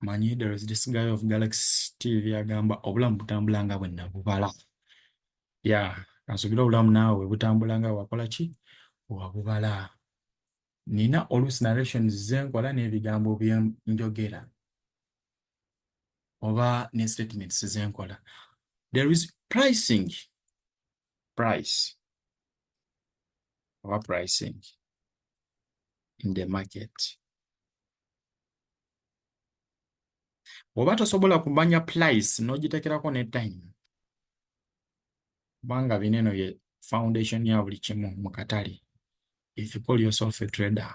manyi there is this guy of galaxy tv agamba obulamu butambula nga bwenna bubala ya kansubira obulamu naawe butambula nga wakola ki wabubala nina oluusi narrations zenkola n'ebigambo byenjogera oba ne statements zenkola there is pricing price oba pricing in the market bw'oba tosobola kumanya price n'ogitekerako ne time kubanga bino eno ye foundation ya buli kimu mu katale if you call yourself a trader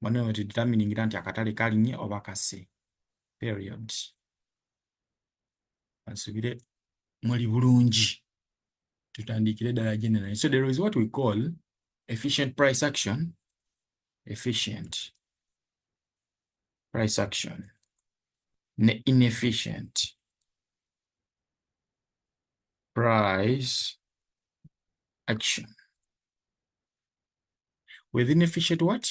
mwana we determining nti akatale kalinye oba kase period ansubire muli bulungi tutandikire dala general so there is what we call efficient price action efficient price action ne inefficient price action with inefficient what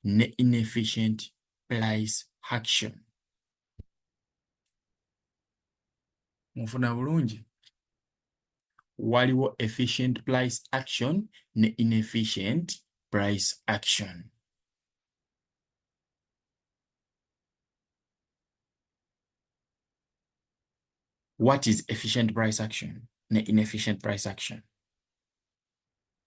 ne inefficient price action mufuna bulungi waliwo efficient price action ne inefficient price action what is efficient price action ne inefficient price action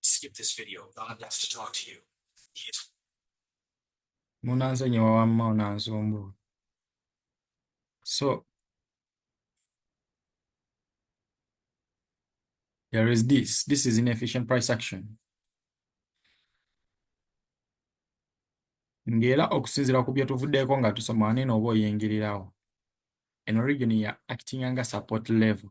Skip this video. God wants to talk to you. He is munanzonye wawamma onanzumbula so there is this this is inefficient price action ng'era okusinziira ku bye tuvuddeeko nga tusoma wanene oba oyingirirawo eno region ya actinga nga support level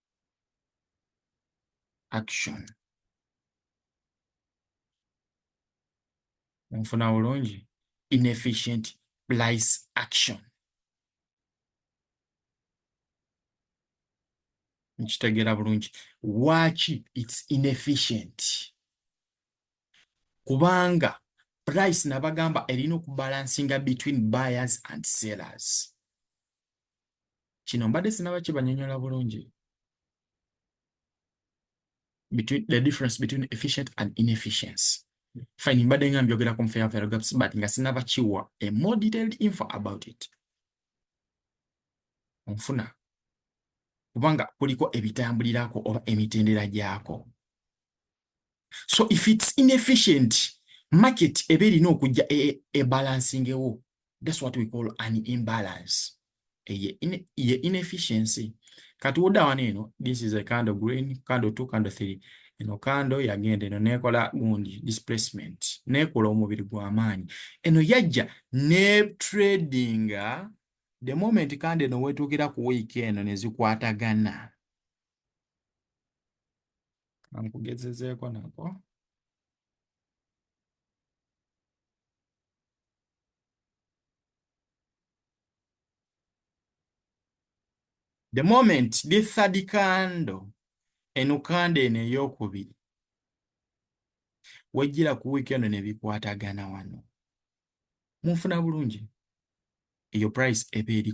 action onfuna bulungi inefficient place action nkitegeera bulungi waaki its inefficient kubanga price nabagamba erina okubalansinga between buyers and sellers kino mbadde sinaba kibanyonyola bulungi between the difference between efficient and inefficiency fine mbadde nga mbyogera ku fair value gaps but nga sinaba kiwa a more detailed info about it onfuna kubanga kuliko ebitambulirako oba emitendera gyako so if its inefficient market eba erina okujja ebalansingewo e, e thats what we call an imbalance eye in, inefficiency kati woda wano eno this is a candle green candle two candle three eno kando yagenda eno nekola gundi displacement nekola omubiri gwamaanyi eno yajja ne tradinga the moment kandi eno wetuukira ku wiiki eno nezikwatagana kankugezezeeko nako The moment the third candle enukanda eno eyokubiri wejjira ku wiiki eno ne bikwatagana wano munfuna bulungi eyo price eba eri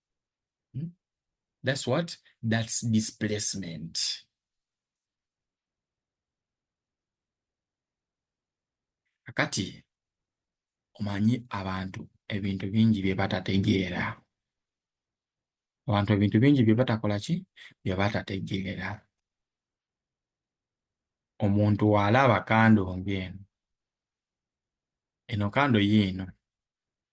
Hmm? That's what? That's displacement. Akati, omanyi abantu ebintu bingi bye batategeera abantu ebintu bingi bye batakola ki bye batategeera omuntu waalaba kando ng'eno eno kando yiino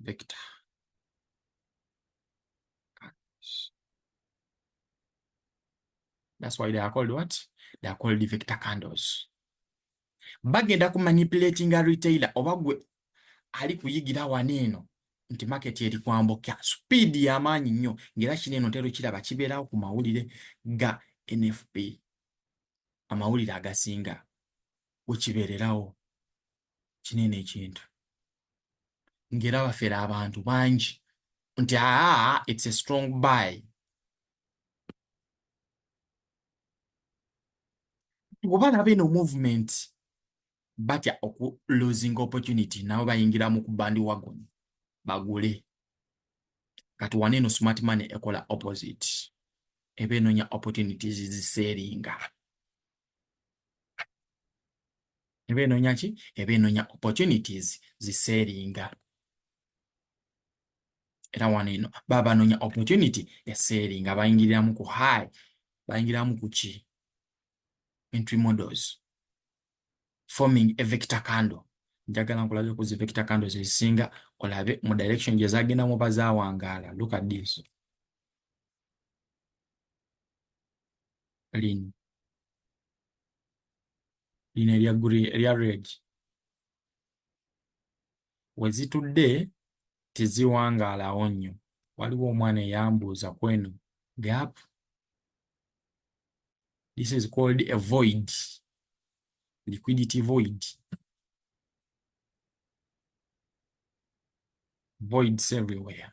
vector. That's why they are called what? They are called the vector candles. Bagenda ku manipulating a retailer oba gwe ali kuyigira wano eno nti market eri kwambuka speed ya maanyi nnyo ng'era kino eno ntero kiraba kibeerawo ku mawulire ga NFP amawulire agasinga wekibeererawo kinene ekintu ngera bafera abantu bangi nti aa it's a strong buy obalaba eno movement batya oku losing opportunity nabo bayingira mu kubandi wagon bagule kati wana eno smart money ekola opposite eba enonya opportunities ziseeringa eba enoonya ki eba enoonya opportunities ziseeringa era wano eno baba banoonya opportunity eseeringa bayingiriramu ku high bayingiramu ku ki entry models forming a vector candle njagala nkulabe ku zi vector candles ezisinga olabe mu direction gye zagendamu oba zawangaala look at this lino lino erya green erya red wezitudde teziwangaalawo nnyo waliwo omwana eyambuuza kweno gap this is called a void liquidity void voids everywhere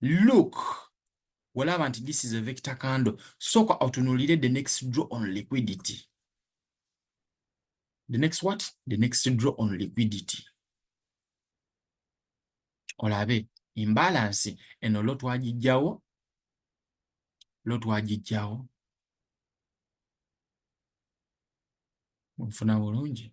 look olaba nti this is a vector candle sooka otunulire the next draw on liquidity the next what the next draw on liquidity olabe imbalance eno lo twagijjawo lo twagijjawo nfuna bulungi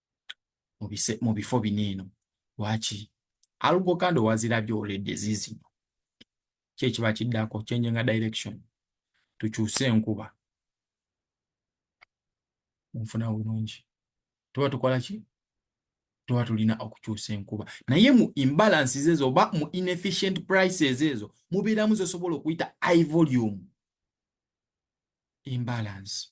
mu bifo bino eno lwaki alugo kandi owazirabye oledde ziizino ki ekiba kiddako kyenjenga direction tukyuse enkuba nfuna bulungi tuba tukola ki tuba tulina okukyusa enkuba naye mu imbalances ezo oba mu inefficient prices ezo mubeeramu zosobola okuyita i volume imbalance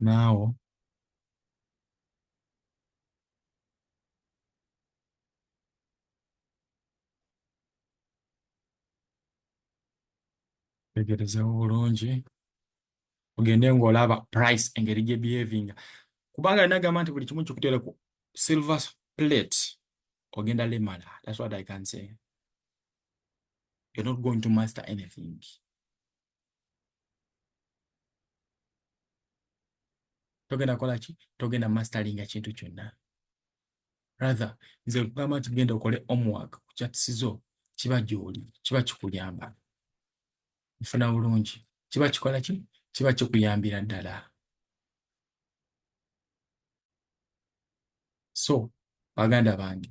Now, tegerezawo bulungi ogende ng'olaba price engeri gye behavinga kubanga alina gamba nti buli kimu kikutere ku silver plate ogenda lemala that's what i can say you're not going to master anything. togenda kola ki togenda mastalinga kintu kyonna rather nze kugamba nti genda okole omwaka ku kyatisizo kiba gyoli kiba kikuyamba nfuna bulungi kiba kikola ki kiba kikuyambira ddala so baganda bange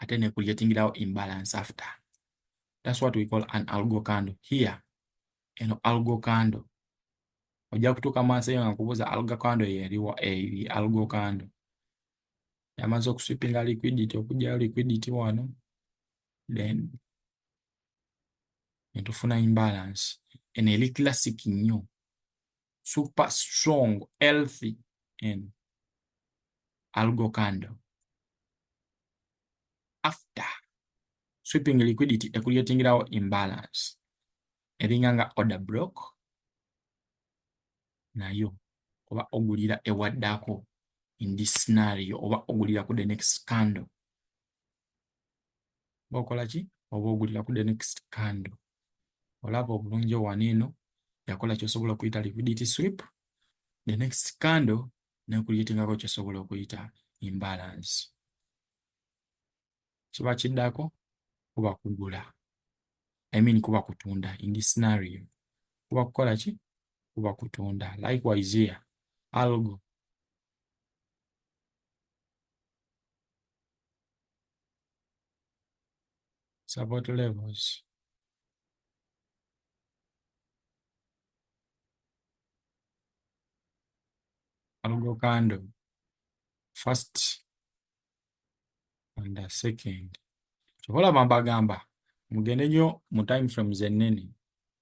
ate ne creatingirawo imbalance after that's what we call an algo candle here eno algo candle ojja kutuuka maaso eyo nga nkubuuza algo candle yeriwa eri algo candle yamaze okuswipinga liquidity okugyayo liquidity wano then netufuna imbalance eno eri classic nnyo super strong healthy and algo candle after sweeping liquidity ekuletingirawo imbalance eringa nga order block nayo oba ogulira ewaddako in this scenario oba ogulira ku the next candle oba okola ki oba ogulira ku the next candle olaba obulungi owana eno yakola kyosobola okuyita liquidity sweep the next candle nekuyitingako kyosobola okuyita imbalance kiba kiddako kuba kugula i mean kuba kutunda in this scenario kuba kukola ki kuba kutunda likewise here algo support levels. Algo candle, first and the second. Kyobola bambagamba mugende nyo mu time frames ennene